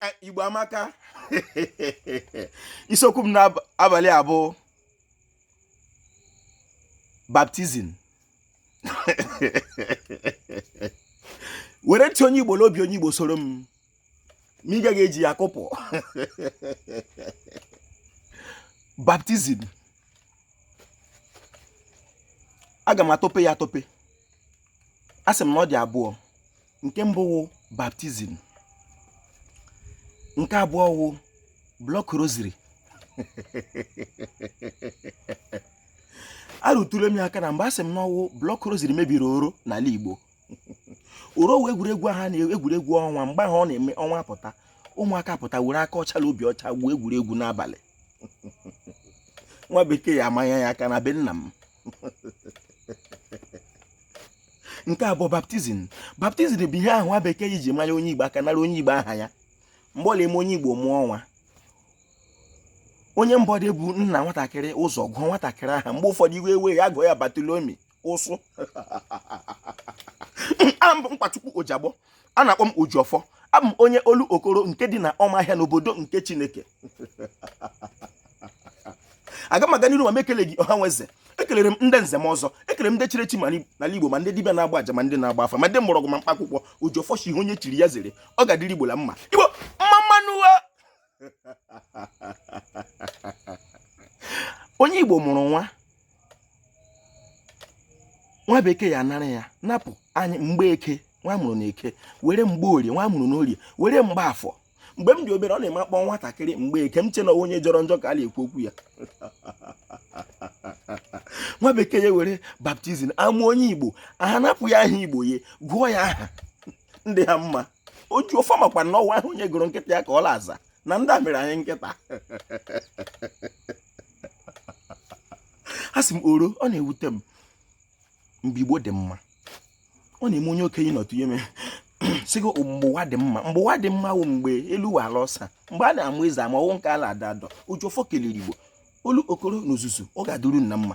Eh, igbo amaka isiokwu m n'abalị a bụ baptizim were ntị onye igbo n'obi onye igbo soro m ma ị gaghị eji ya kụpụ baptizim aga m atọpe ya atọpe a sị m na ọ dị abụọ nke mbụ wụ baptizim nke abụọ wụ block rosary arụtụle m ya aka na mgbe a sị m na ọ wụ block rosary mebiri oro n'ala Igbo oro wụ egwuregwu ahụ egwuregwu ọnwa mgbe ahụ ọ na-eme ọnwa pụta ụmụaka pụta were aka ọcha na obi ọcha gwuo egwuregwu n'abalị nwa bekee ya amanya ya aka na be nna m nke a bụ baptizim baptizim bụ ihe ahụ nwa bekee iji manya onye igbo aka nara onye igbo aha ya mgbe ọ la-eme onye igbo mụọ nwa onye mba ọdọ buo nna nwatakịrị ụzọ gụọ nwatakịrị aha mgbe ụfọdụ iwe ewe ya gụọ ya batolomi ụsụ abụ m nkwachukwu ojagbọ a na-akpọ m ojiọfọ abụ m onye olokoro nke dị na ọmahịa n'obodo nke chineke aga m aga n'iru ma m ekele gị ọha na eze ekelere m ndị nze na ọzọ ekelere m ndị chiri echi n'ala igbo ma ndị dibịa na-agba aja ma ndị na-agba afa ma ndị mgbọrọgwụ ma mkpakwụkwọ ojiọfọ shị ihe onye chiri ya zere ọ ga-adịrị igbo la mma igbo mma mma nụ onye igbo mụrụ nwa nwa bekee ya anara ya napụ anyị mgbeke nwa a mụrụ na eke were mgborie nwa a mụrụ na orie were mgbafọ mgbe m dị obere ọ na-eme a kpọọ nwatakịrị mgbeke m chee na ọ wụ onye jọrọ njọ ka a na-ekwu okwu ya nwa bekee ya were baptizim a mụọ onye igbo ha anapụ ya aha igbo ya gụọ ya aha ndị ha mma ojiọfọ makwa na ọ wụ aha onye gụrụ nkịta ya ka ọ la-aza na ndị a mere anyị nkịta a sị m oro ọ na-ewute m mgbe igbo dị mma ọ na-eme onye okenye nụtụ ihe mee sị gị mgbe ụwa dị mma mgbe ụwa dị mma wụ mgbe elu wụ ala ọsa mgbe a na-amụ eze ama ọ wụ nke ala ada adọ ojiọfọ kelere igbo olokoro na ozuzu ọ ga-adịrị unu na mma